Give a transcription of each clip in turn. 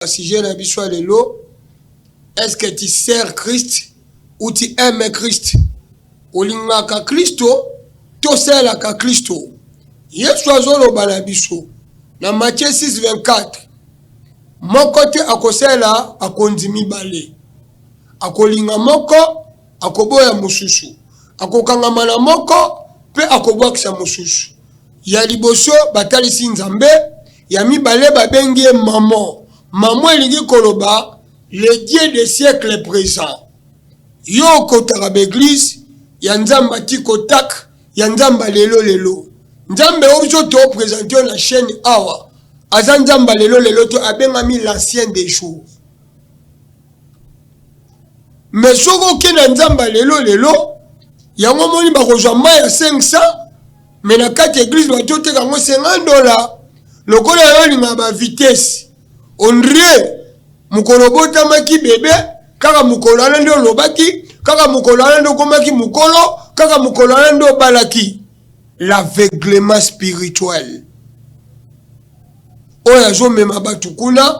na sujet na biso ya lelo est-ce que tu sers Christ ou tu aimes Christ olingaka Kristo tosalelaka Kristo Yesu azoloba na biso na Matthieu 6:24 moko te akosalela bakonzi mibale akolinga moko akoboya mosusu akokangama na moko mpe akobwakisa mosusu ya liboso batalisi nzambe Ya mibale babengi ye mamo. Mamo elingi koloba le Dieu de siècle présent. Yo okotaka ba eglise ya Nzambe atiko tak ya Nzambe lelo lelo. Nzambe ozo to presente yo na chaîne awa aza Nzambe lelo lelo to abengami l'ancien des jours. me soki oke na nzamba lelo lelo yango omoni bakozwa mai ya 500 me na kati ya eglize bato oteka yango 50 dola lokola yo olingaka bavitese ondrie mokolo obotamaki bebe kaka mokolo wana nde olobaki kaka mokolo wana nde okomaki mokolo kaka mokolo wana nde obalaki l'aveuglement spirituel oyo azomema bato kuna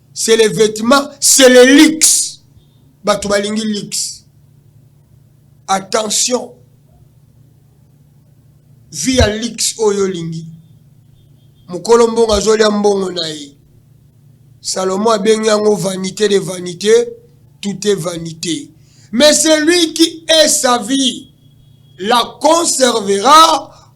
c'est le vêtement c'est le luxe bato balingi luxe attention vie ya luxe oyo olingi mokolo mbongo azolya mbongo na ye salomo abengi yango vanité de vanité tout est vanité mais celui qui est sa vie la conservera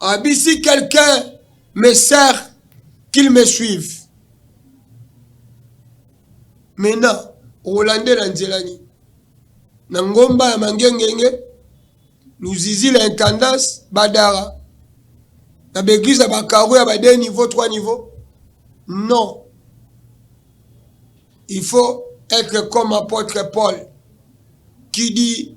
abisi quelqu'un me sert qu'il me suive maintenant okolandela nzela nini na ngomba ya mangengenge luzizi la intendance badara na baeglise ya bakaro ya bade niveau 3 niveau non il faut être comme apôtre paul qui dit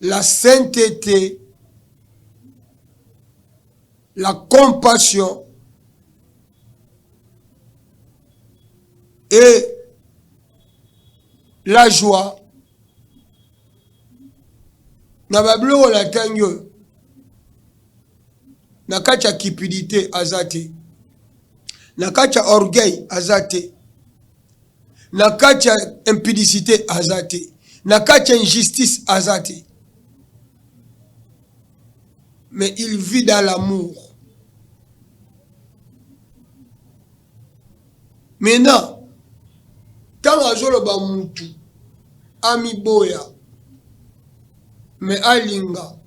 la saintete, la compassion et la joie na babiloko na ntangi oyo na kati ya cupidité aza te na kati ya orgueil aza te na kati ya impudicite aza te na kati ya injustice aza te mais il vit dans l'amour maintenant ntango azoloba mutu amiboya me alinga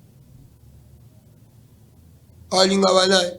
alinga banani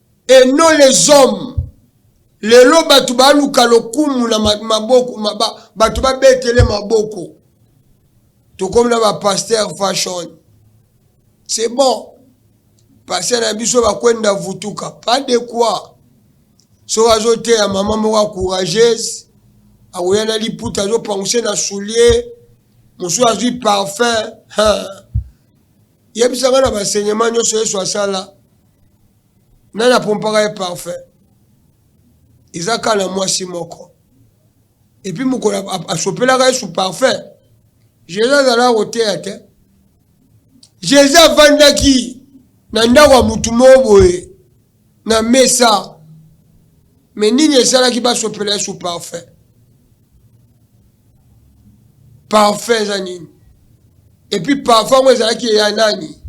et non les hommes lelo batu baluka lokumu na maboko maba, batu babetele maboko tokomi na ba pasteur fashion c'est bon pasteur na biso bakwenda vutuka pas de quoi so azoteya mama moko ya courageuse akoya na liputa azopanguse na soulier mosusu azwi parfum Yebisa nga na ba enseignement nyonso Yesu asala nani apompaka ye parfum? Eza kaka na mwasi moko epuis mokolo asopelaka Yesu parfum. Jesus azalaka koteya te. Jesus avandaki na ndako ya motu moko boye na mesa me nini esalaki basopela yesu parfum parfum eza nini epuis parfum yango ezalaki ya nani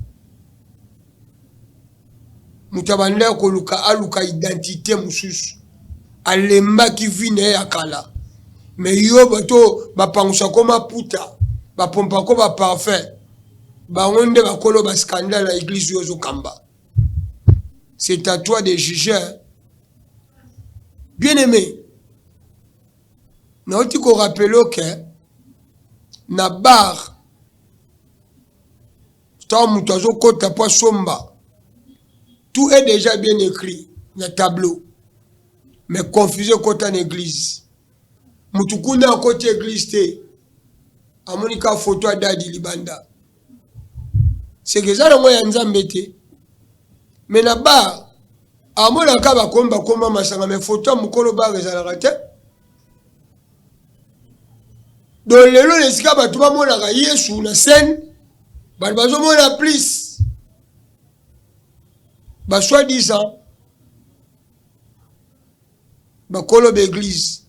moto abanda ya koluka aluka identité mosusu alembaki vi na ye ya kala me yo bato bapangusa ko maputa bapompako baparfum bango nde bakolo bascandale na eglize oyo ozokamba C'est à toi de juger. Bien aimé, nauti ko rappeler que na bar ntango moto azokɔta mpo asomba tout est déjà bien écrit na tableau mais confuse ekɔta na église motu kuna akɔti église te amoni ka foto adadi libanda seke eza nango ya nzambe te me na bar amonaka bakomba komba masanga me foto ya mokolo bar ezalaka te don lelo na esika bato bamonaka yesu na scène bato bazomona plus basoi disant bakolo baeglize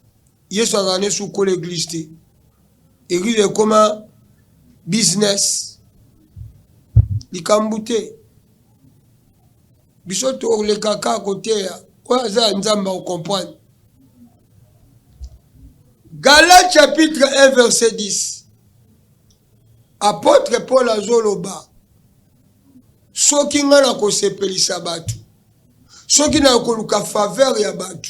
Yesu azala ne sukola eglise te. Eglise ekoma business. Likambu te. Biso tolekaka koteya oyo aza ya Nzambe o comprendre. Gala chapitre 1 verset 10. Apôtre Paul azoloba soki ngai nakosepelisa bato soki nakoluka faveur ya bato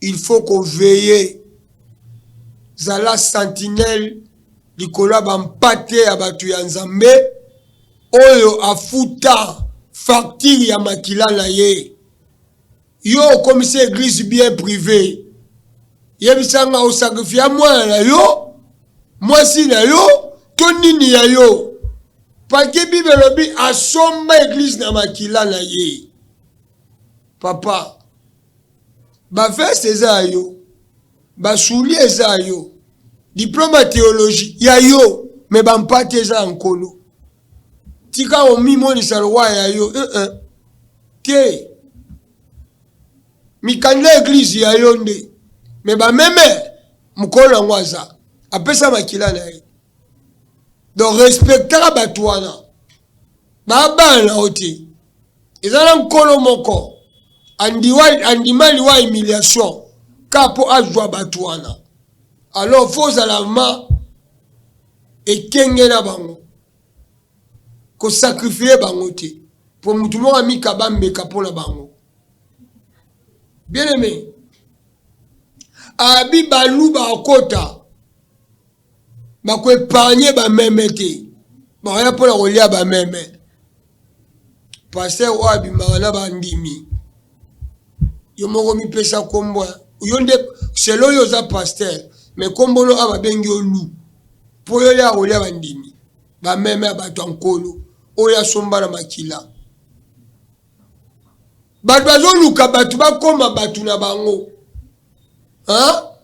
il faut ko veiller zala sentinelle likolo ya ba mpate ya batu ya Nzambe oyo afuta facture ya makila na ye yo okomisi eglise bien privé yebisa nga osakrifia mwana na yo mwasi na yo to nini ya yo pake bible elobi asomba eglise na makila na ye Papa, ba veste eza ya yo, ba soulier eza ya yo, diplome ya theologie ya yo, me ba mpate eza ya nkolo. Tika omimonisa lowa ya yo uh -uh. te mikanda ya eglize ya yo nde me bameme mokolo yango aza apesa makila na ye donc respectaka bato wana babala na yo te eza na nkolo moko andiwa, andima liwa humiliation ka mpo azwa bato wana alors fo ozala ma ekenge na bango kosakrifie bango te mpo motu moko amikaba mbeka mpo na bango bien aime abi baluba akota bako epargne bameme te bakoya mpo na kolia bameme paster oyo abimaka na bandimi yo moko mipesa nkombo yo nde selo oyo oza paster me nkombono a babengi yo lu mpo yo ya kolia bandimi bameme ya bato ya nkolo oyo asomba na makila bato bazoluka bato bakoma bato na bango hein?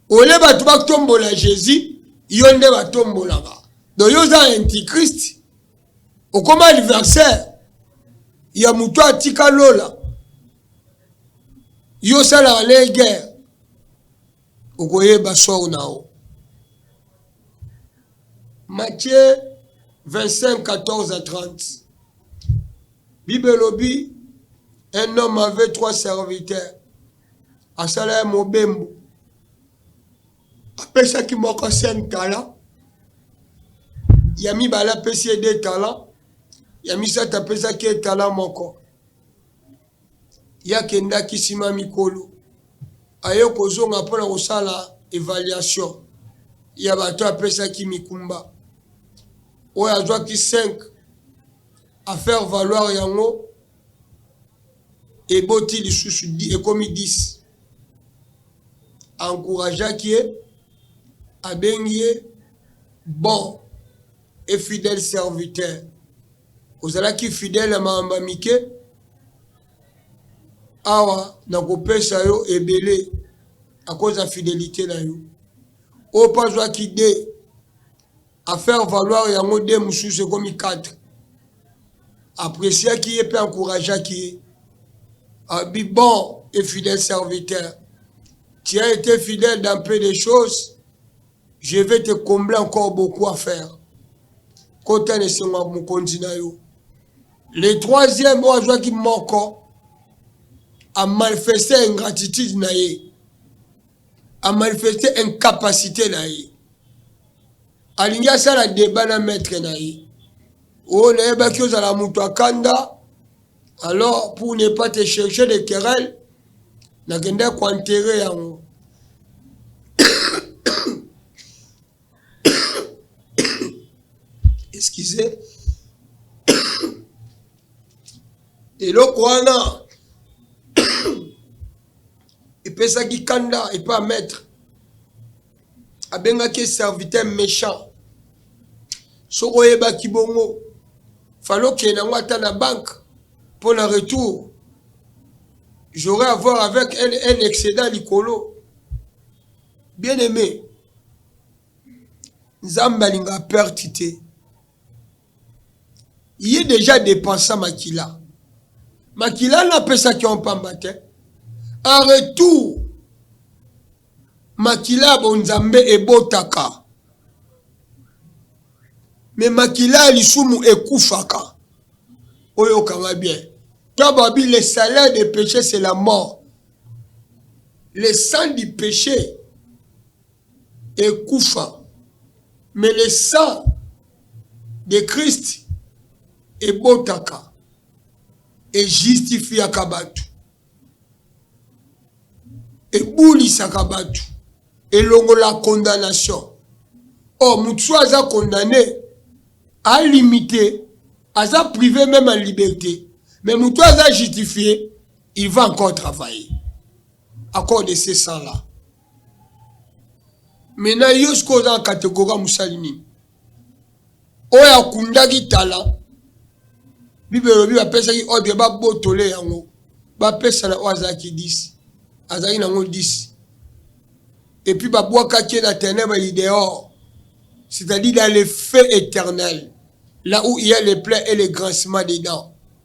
ole bato batombola jesus yo nde batombolaka do yo oza antichrist okoma adversaire ya moto atika lola yo osalaka le guerre okoyeba sor na yo matthieu 25 14 à 30 bible elobi un homme avait trois serviteurs asala ye mobembo apesaki moko sen tala ya mibale apesi ye de tala ya misato apesaki ye tala moko ye akendaki nsima mikolo aye kozonga mpo na kosala evaluation ya bato apesaki mikumba oyo azwaki 5 affaire valoir yango eboti lisusu ekomi 10 encourageaki ye abengi ye bon et fidèle serviteur ozalaki fidèle ya makambo ya mike awa nakopesa yo ebele akoza fidelité na yo oyo mpe azwaki 2 A faire valoir yango deux mususu ekomi quatre. Appreciaki ye pe encourageaki ye. Abi bon et fidèle serviteur. Tu as été fidèle dans peu de choses. Je vais te combler encore beaucoup à faire. Kota ne sengo mokonzi na yo. Le troisième oyo azwaki moko a manifeste ingratitude na ye. A manifeste incapacité na ye. alingi asala deba na maitre na ye oyo nayebaki ozala moto akanda alors pour ne pas te chercher de querelle nakenda koenterre yango excusez eloko wana epesaki kanda epa maitre abengaki ye serviteur méchant soki oyebaki bongo fale okende yango ata na banque mpo na retour j'aurai avoir avec un, un excédent likolo bien aimé nzambe alinga perte te Ye dejà depensa makila. Makila wana apesaki yango pamba te. En retour, makila ya bonzambe ebotaka. Mais makila ya lisumu ekufaka. Oyoka nga bien. Toi babi le salaire de peche c'est la mort. Le sang du peche ekufa mais le sang de Christ ebotaka e justifiaka batu ebulisaka batu elongola condamnation or oh, mutu soki aza condamne alimite aza prive meme ya liberté mais mutu aza justifie il va encore travailler à cause de ces sangs là Mais na yo sikoyo oza na categorie ya mosali nini oyo akundaki tala bible elobi bapesaki ordre babotole yango bapesa na oyo azalaki 10 azalaki nango 10 epuis babwakaki ye na tenebre idehor c'est-à-dire dans le feu éternel là où il y a le plein et le grincement des dents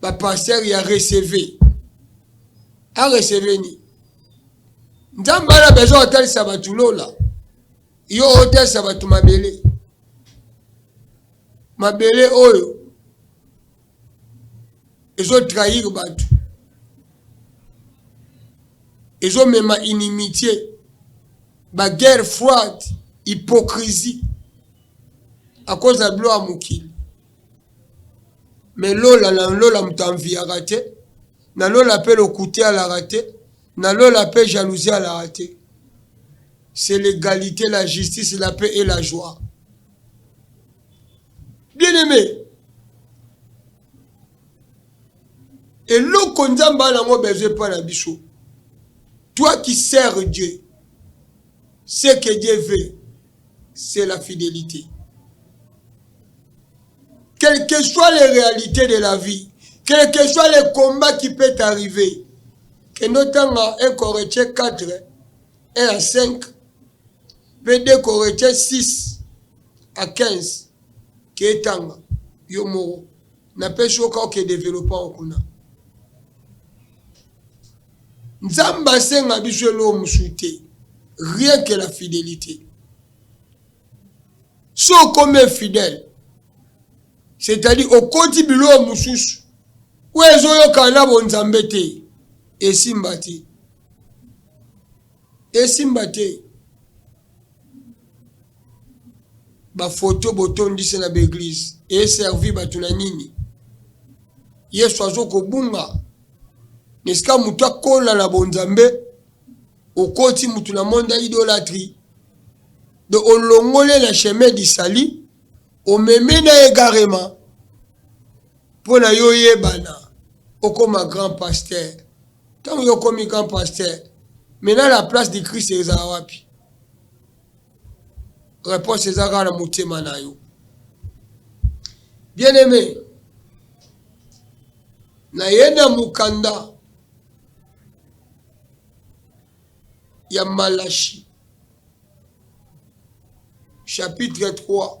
ba pasteur ya receve a receve ni nzambe ana besoin atalisa bato lola yo otalisa bato mabele mabele oyo ezo trahir bato ezomema inimitié baguerre froide hypocrisie akoza bilo ya mokili Mais lola na lola moto enviaka te, na lola pe lokuta alaka te, na lola pe jalousie alaka te. C'est l'egalite, la justice, la paix et la joie. Bien aimé, eloko nzambe ana yango besoin epai na biso toi qui sert dieu ce que dieu veut c'est la fidelite. Quelles que soient les réalités de la vie, quel que soit le combat qui peut arriver, kende otanga un corretier 4, 1 à 5, mpe 2 corretier 6 à 15, ketanga yo moko napesi yo kaka oke developpant kuna Nzambe asenga biso eloko mosusu te, rien que la fidelite. Si okomi infidèle, c'est-à-dire okoti biloko mosusu oyo ezoyokana na bonzambe te, esimba te, esimba te. ba photo botondisi na ba eglise e servir bato na nini? Yesu azo kobunga na esika moto akola na bonzambe, okoti moto na monde ya idolatrie de olongole na chemin du salut omeme na egarema mpo na yo oyebana okoma grand pasteur Tango yo komi grand pasteur, maintenant la place du Christ eza wapi? Réponse eza kaka na motema na yo. Bien aimé, naye na mukanda ya Malachi chapitre 3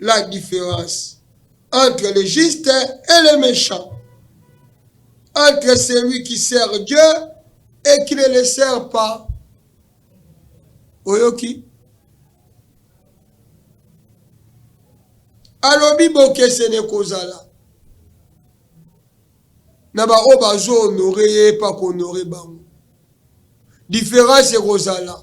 la difference entre le juste et le méchant, entre celui qui sert Dieu et qui ne le sert pas. Oyoki? alobi bokesene kozala na baoyo bazo honore ye epa kohonore bango diference ekozala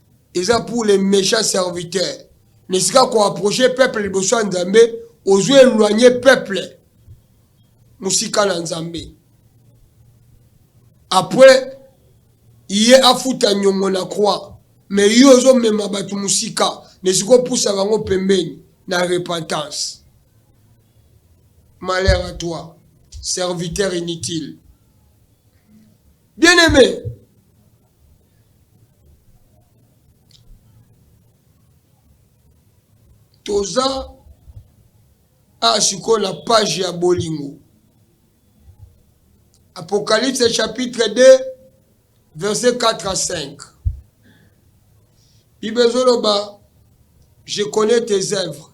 Eza pour les mechants serviteurs. Na esika ko approcher peuple liboso ya Nzambe, ozo eloigner peuple mosika na Nzambe. Après ye afuta nyongo na croix, mais yo ozo mema bato mosika na esika opusa bango pembeni na repentance. Malheur à toi, serviteur inutile. Bien-aimé, toza awa sikoyo na page ya bolingo apocalypse chapitre 2 verset 4 à 5 bible ezoloba je connais tes œuvres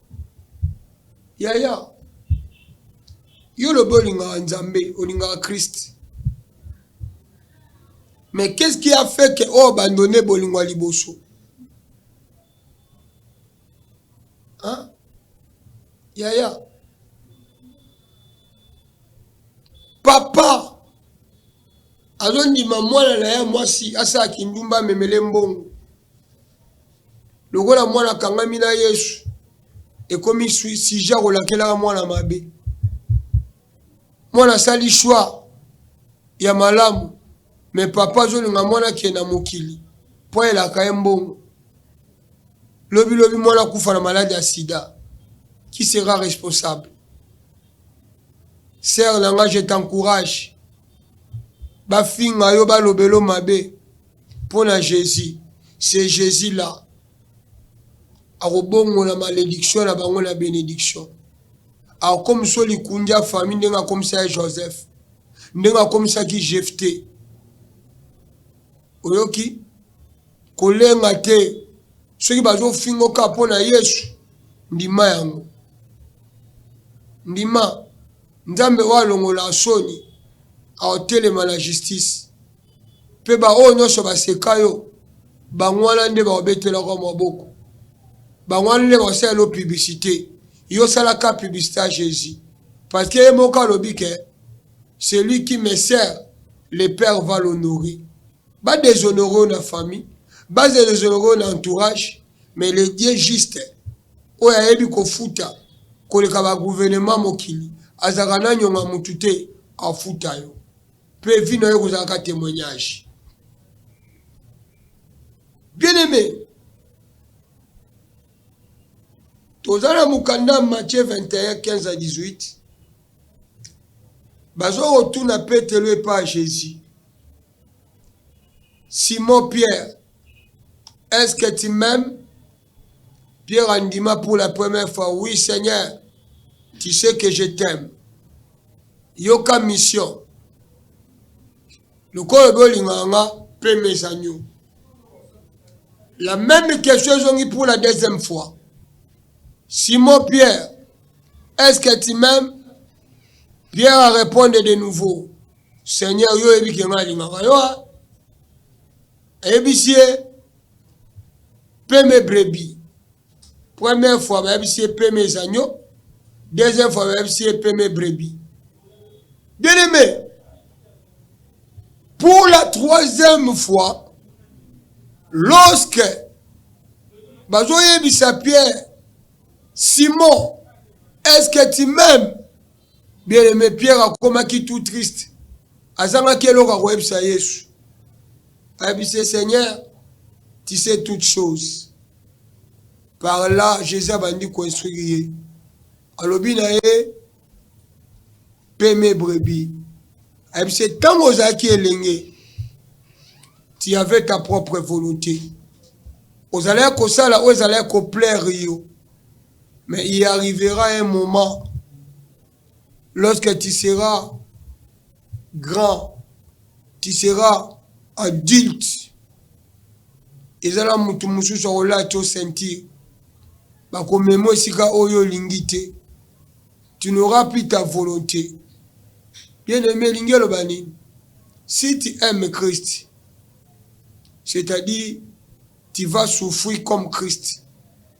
Yaya yo olobi olingaka nzambe olingaka christ mais qu'est ce qui a fait que o abandonne bolingo ya liboso hein? yaya papa azondima mwana na ye mwasi asala kindumba amemele mbongo Lokola mwana akangami na Yesu, ekomi sujet ya kolakelaka mwana mabe. Mwana asali choix ya malamu, me papa azolinga mwana akende na mokili mpo ayelaka ye mbongo. Lobi lobi mwana akufa na maladi ya sida, qui sera responsable? Sœur na nga, je t'encourage, bafinga yo, balobelo mabe, mpo na Jesus ce Jesus là akobongola malediction na bango na benediction akokomisa likundi ya famille ndenge akomisa ya joseph ndenge akomisaki jefte oyoki kolenga te soki bazofingoka mpo na yesu ndima yango ndima nzambe oyo alongola soni aotelema na justice Mpe baoyo nyonso baseka yo, bango wana nde bakobetelaka yo maboko. Bango wana nde bakosalela yo publicite. Yo salaka publicite ya Jesus. Parce que ye moko alobi ke celui qui me sert, le père va l'honorer. Ba deshonore yo na famille, ba deshonore yo na entourage, mais le Dieu juste oyo ayebi kofuta koleka ba gouvernement mokili azalaka na nyonga mutu te, afuta yo. Pe vie na yo ekozala ka temoignage. Bien aimé, toza na mokanda Matthieu 21 15 à 18 bazokotuna Petelo epa ya Jésus, Simon Pierre, est-ce que tu m'aimes? Pierre andima pour la première fois oui Seigneur tu sais que je t'aime yoka mission lokola obi olingaka nga mpe mes agneaux la même question ezongi pour la deuxième fois simon pierre est ce que tu m'aimes pierre a répondu de nouveau seigneur yo oyebi ke nga alingaka yo ayebisi ye peme brebi première fois bayebisi ye peme ezanyo deuxième fois bayebisi ye peme brebi bien aimé pour la troisième fois lorsque bazoyebisa pierre simon est ce que tu m'aimes bien aimé pierre akomaki tout triste Azangaki eloko ya koyebisa Yesu. Ayebisi ye, Seigneur, tu sais toutes choses. Par là, Jésus abandi koinstruire ye. Alobi na ye, peme brebis. Ayebisi ye, ntango ozalaki elenge, tu avais ta propre volonté. Ozalaki kosala oyo ezalaki koplaire yo. Mais il arrivera un moment lorsque tu seras grand tu seras adulte eza na moto mosusu akolati yo ceinture bakomema esika oyo olingi te tu n'auras plus ta volonté bien aimé elingi eloba nini si tu aimes christ c'est-à-dire tu vas souffrir comme christ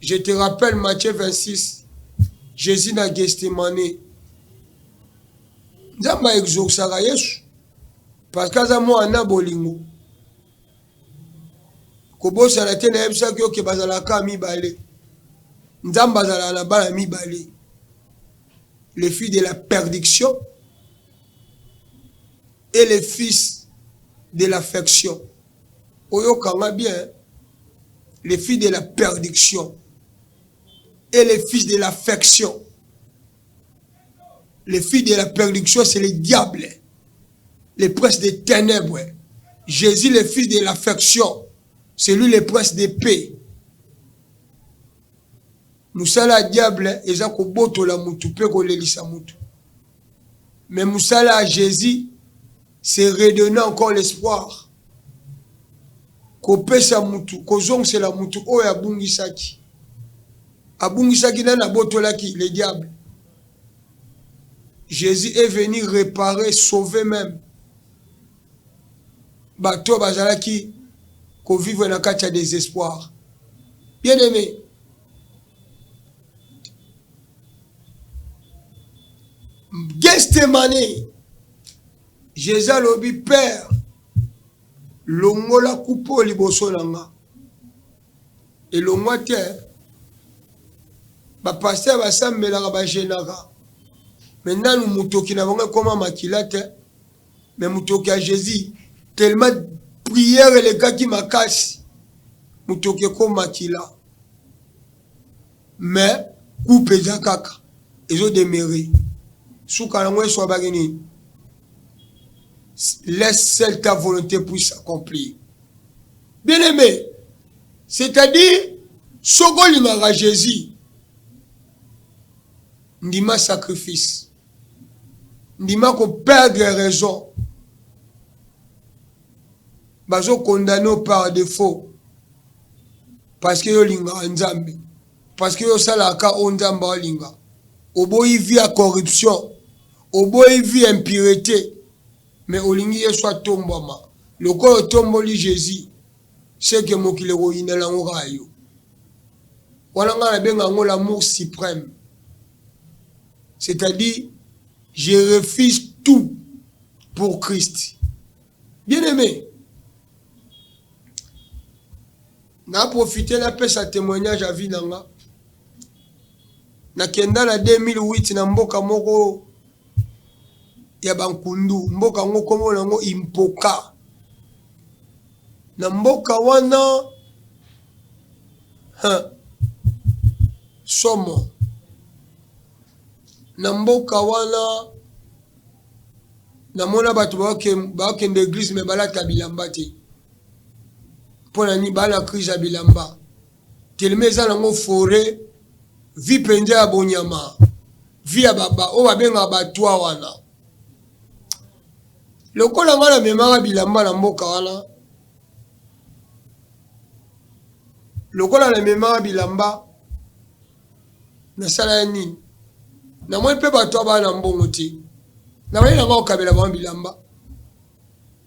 Je te rappelle Matthieu 26, Jésus na Gethsemane. Nzambe a exaucaka Yesu parce que aza mwana bolingo. Kobosana te nayebisaki yo ke bazalaka mibale. Nzambe azalaka na bana mibale. Le fils de la perdiction et le fils de l'affection. oyoka nga bien le fils de la perdiction et le fils de l'affection le fils de la perdiction c'est le diable le prince des ténèbres Jésus le fils de l'affection c'est lui le prince de paix mosala ya diable eza kobotola motu mpe kolelisa motu me mosala ya jésus se redonner encore l'espoir, kopesa mutu, kozongisela mutu oyo abungisaki, abungisaki nani? Abotolaki le diable. Jesus est venu reparer, sauver meme bato oyo bazalaki ko vivre na kati ya desespoir. Bien aime, Gethsemane Jésus alobi père longola kupe oyo liboso na nga elongwa te bapaster basambelaka bagenaka me nanu motoki na bango ekoma makila te me motoki ya jésus tellement prière elekaki makasi motoki ekoma makila Mais coupe eza kaka ezo demeure suka nango eswabaki nini laisse seule ta volonté puisse accomplir bien aimé c'est-à-dire soki olingaka jésus ndima sacrifice ndima koperdre raison bazo condamne yo par defaut parce que yo olingaka Nzambe parce que yo osalaka ka oyo Nzambe alinga oboyi vie ya corruption oboyi vie ya impurete mais olingi Yesu atombwama lokola otomboli Jésus seke mokili ekoyina nango kaka yo wana ngai nabenga yango l'amour suprême c'est-à-dire Je refuse tout pour Christ. Bien aimé, na profite napesa témoignage ya vie na nga nakenda na 2008 na mboka moko ya bankundu mboka yango nkombo na yango impoka na mboka wana somo na mboka wana namona bato bakende eglise me balata bilamba te mpo na nini baa na crise ya bilamba telema eza nango fore vi mpenza ya bonyama vi ya baba oyo babengaka batwa wana lokola ngai namemaka bilamba na mboka wana lokola namemaka bilamba Nasala ye nini? Namoni mpe bato ya bana mbongo te. Nabaye na nga kokabela bango bilamba.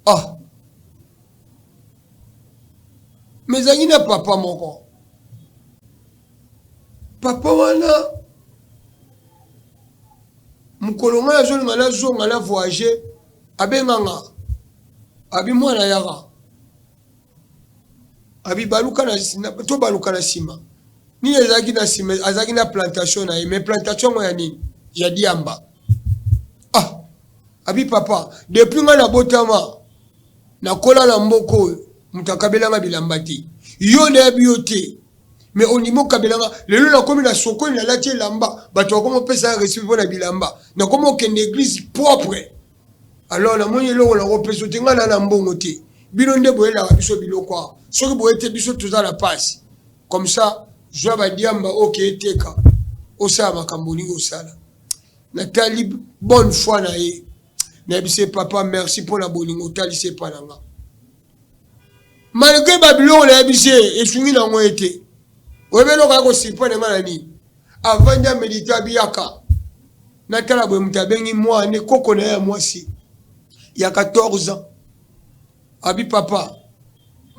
Ah. Mais ezalaki na papa moko. Papa wana mokolo ngai azolinga nazonga na voyage abenganga abi mwana yaka abibaluka na na- tobaluka na nsima nini ezalaki na nsima azalaki na plantation na ye mais plantation yango ya nini ya diamba ah abi papa depuis ngai nabotama nakola na mboka oyo moto akabelanga bilamba te yo nayebi yo te me ondimi okabelanga lelo nakomi na sokoli nalati elamba bato bakoma opesa respect mpo na bilamba nakoma okende eglise propre Alors namoni eloko nakopesa yo te, ngai naa na mbongo te, bino nde boyelaka biso biloko awa, soki boye te biso toza na pasi. Comme ça zwa ba diamba okeye teka, osala makambo olingi osala. Natali bonne foi na ye, nayebisi ye papa merci mpo na bolingo otalisi epai na nga. malgre babiloko na ye bise esungi na yango ye te oyebi eloko ya kosipane nga na nini avandi amedite abiyaka natala boye moto abengi mwa nde koko na ye ya mwasi ya 14 ans abi papa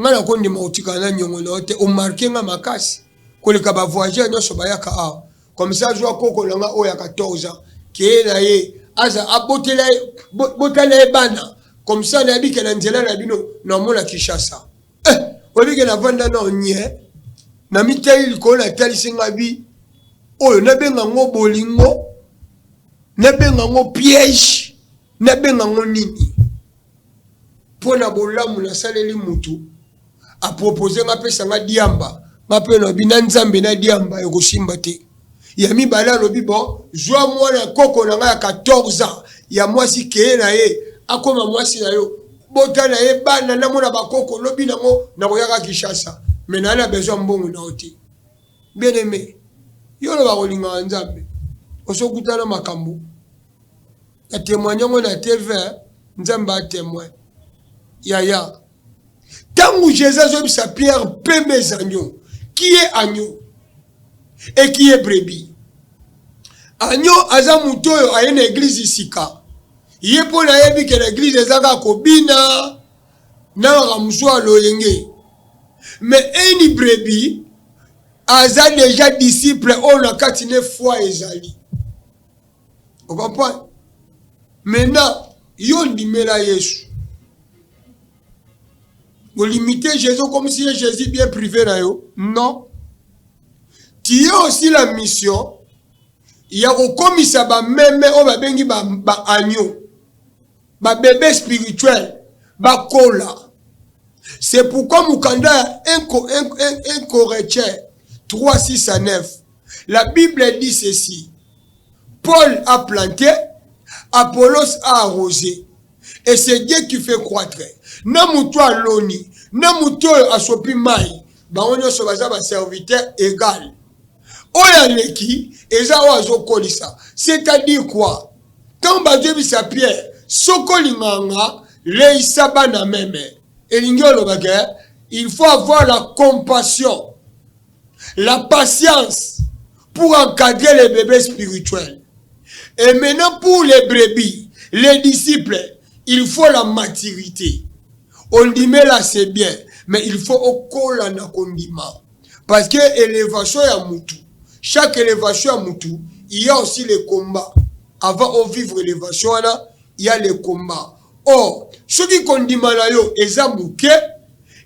nga nakondima kotikala na nyongo na yo te omarke nga makasi koleka bavoyageur nyonso bayaka awa comme ça azwa koko na nga oyo ya 14 ans keye na ye aza abotela ye botala ye bana comme ça nayebike na nzela na bino namona kinshasa eh, oyebike navanda na onye na mitali likolo natalisi nga bi oyo nabenga ngo bolingo nabenga ngo piège nabenga ngo nini mpo na bolamu nasaleli motu a propose nga apesa nga diamba nga mpe nalobi na nzambe na diamba ekosimba te ya mibale alobi bo zwa mwana ya koko na ngai ya 14 ans ya mwasi keye na ye akoma mwasi na yo bota na ye bana namona bakoko lobi nango nakoyaka kinshasa me naye na besoin mbongo na yo te bien aime yo oloba kolingaka nzambe osokutana makambo na temoigne yango na tv nzambe a temoin yaya ntango jesus azoyebisa pierre pembe ezanyo kie anyo ekiye brebi anyo aza moto oyo aye na eglize sika ye mpo na yebi ke na eglize eza kaka kobina na makambo so ya loyenge me eni brebi aza deja disciple oyo na kati ne foi ezali okomprendre maintenant yo ndimela yesu olimite jésus okomisi ye jésus bien privé na yo non tu es aussi la mission ya kokomisa bameme oyo babengi baagneau ba ba bebe spirituel bakola c'est pourquoi mukanda ya 1 Corinthiens 3 6 à 9 la Bible dit ceci Paul a planté Apollos a arrosé et c'est Dieu qui fait croître na moto aloni na moto oyo asopi mai bango nyonso baza baserviteur égal oyo aleki eza oyo azokolisa c'est-à-dire quoi ntango bazoyebisa pierre soki olingaka nga leisa bana meme elingi olobake il faut avoir la compassion la patience pour encadrer les bébés spirituels et maintenant pour les brebis les disciples il faut la maturité ondimela c'est bien mais il faut okola na kondima Parce que elevation ya mutu, chaque elevation ya mutu, il y a aussi les combats. Avant au vivre elevation wana, il y a les combats. Or, soki kondima na yo eza muke,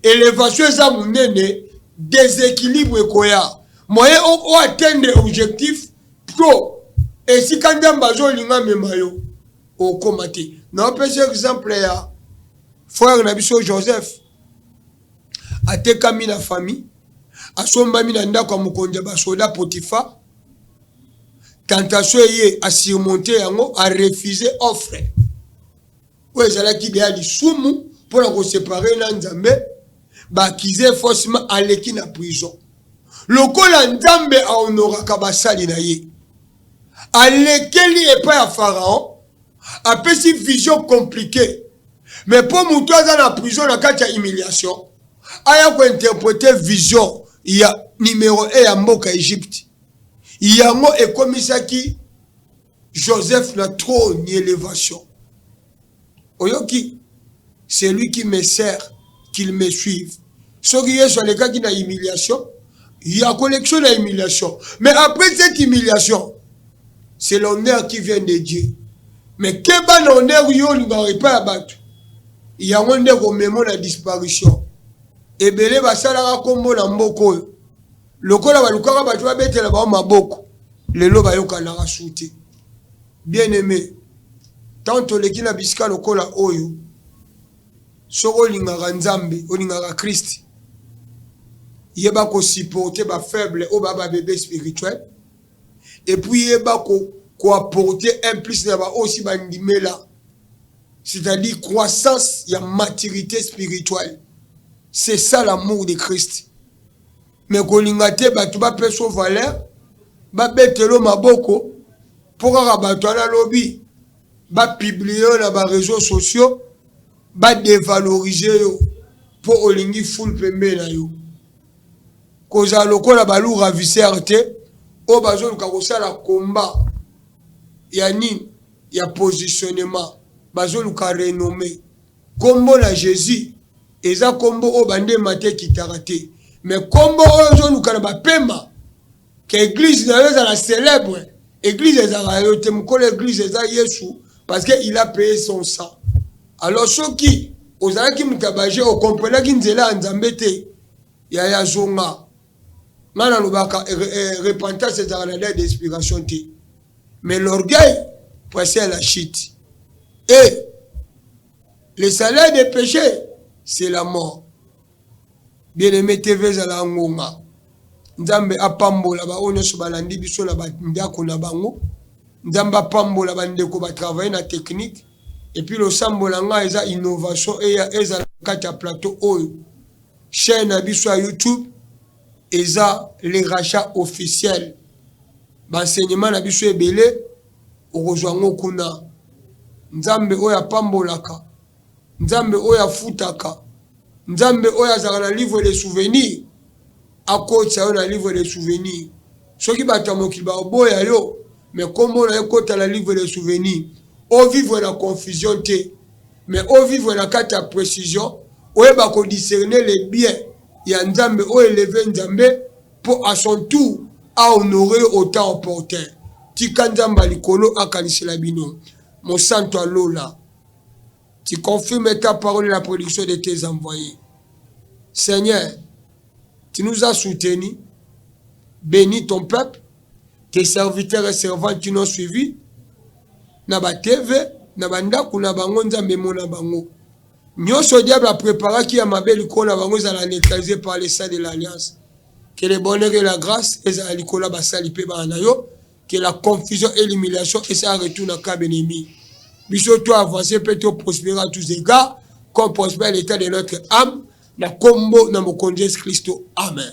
elevation eza munene, déséquilibre ekoya. Moyen o, o atteindre objectif pro esika nzambe azolinga mema yo okoma te. Naopesa exemple ya frère na biso Joseph. Atekami na famille, asombami na ndako ya mokonzi ya basoda Potifa. Tentation eye a surmonter yango, a refuser offre oyo ezalaki deya lisumu mpo na koseparer na Nzambe, ba accuser faussement, aleki na prison. Lokola Nzambe a honoraka basali na ye, alekeli epai ya Pharaon, apesi vision compliquée. Mais mpo moto aza na prison na kati ya humiliation, aya ko interpreter vision ya numero 1 ya mboka Egypte. Yango ekomisaki Joseph na trop ni elevation. Oyoki? Celui qui me sert, qu'il me suive. Soki Yesu alekaki na humiliation, il a collection de humiliation. Mais après cette humiliation, c'est l'honneur qui vient de Dieu. Mais que ban honneur yo olingaka pas ya bato yango nde komemo na disparition ebele basalaka nkombo na mboka oyo lokola balukaka bato babetela bango maboko lelo bayokanaka su te Bien aime tant oleki na bisika lokola oyo soki olingaka nzambe olingaka christ yeba ko supporte ba faible oyo ba ba bebe spirituel et puis yeba ko ko apporte un plus na ba oyo si ba ndimela c'est à dire croissance ya maturite spirituel c'est ça l'amour de christ mais kolinga te bato bapesa yo valeur babetela yo maboko mpo kaka bato wana lobi bapiblie yo na bareseau sociaux badevalorize yo mpo olingi fule pembe na yo kozala lokola balu ravisere te oyo bazoluka kosala komba ya nini ya positionnement bazoluka renome Kombo na Jesus eza kombo oyo bande emata ekitaka te mais kombo oyo ozoluka na bapema ke eglise na yo ezala celebre eglise ezalaka yo te mokolo eglise eza yesu parce que il a paye son sang alors soki ozalaki moto ya baje okomprenaki nzela ya nzambe te ya ya zonga ngai nalobaka eh, eh, repentance ezalaka na date d'inspiration te Mais l'orgueil poissait à la chute. Et le salaire des péchés, c'est la mort. Bien-aimé TV ezala ngonga. Nzambe apambola ba oyo nyonso balandi biso na bandako na bango. Nzambe apambola bandeko batravaille na technique. Epuis losambo na ngai eza innovation eya ezala kati ya plateau oyo. Chaîne na biso ya YouTube eza le rachat officiel ba enseignement na biso ebele okozwa yango kuna nzambe oyo apambolaka nzambe oyo afutaka nzambe oyo azalaka na livre de souvenir akotisa yo na livre de souvenir soki bato ya mokili baoboya yo me nkombo na yo ekota na livre de souvenir ovivre na confusion te mais au vivre na kati ya précision oyeba ko discerner le bien ya nzambe o eleve nzambe po a son tour a honore yo au temps opportun tika nzambe ya likolo akanisela bino mosantu ya lola tu confirme ta parole la production de tes envoyes seigneur tu nous as soutenu béni ton peuple tes serviteurs et servantes qui n'ont suivi na ba TV na ba ndako na bango nzambe emona bango Nioso diable a preparaki ya mabe likolo na bango ezala neutralise par le sang de l'alliance. Que le bonheur et la grace ezala likolo ya basali pe bana na yo. Que la confusion et l'humiliation esala retour na camp ennemi. Biso to avancer pe to prosperer à tous egards comme prospère l'etat de notre ame na kombo na mokonzi Jesus Christo. Amen.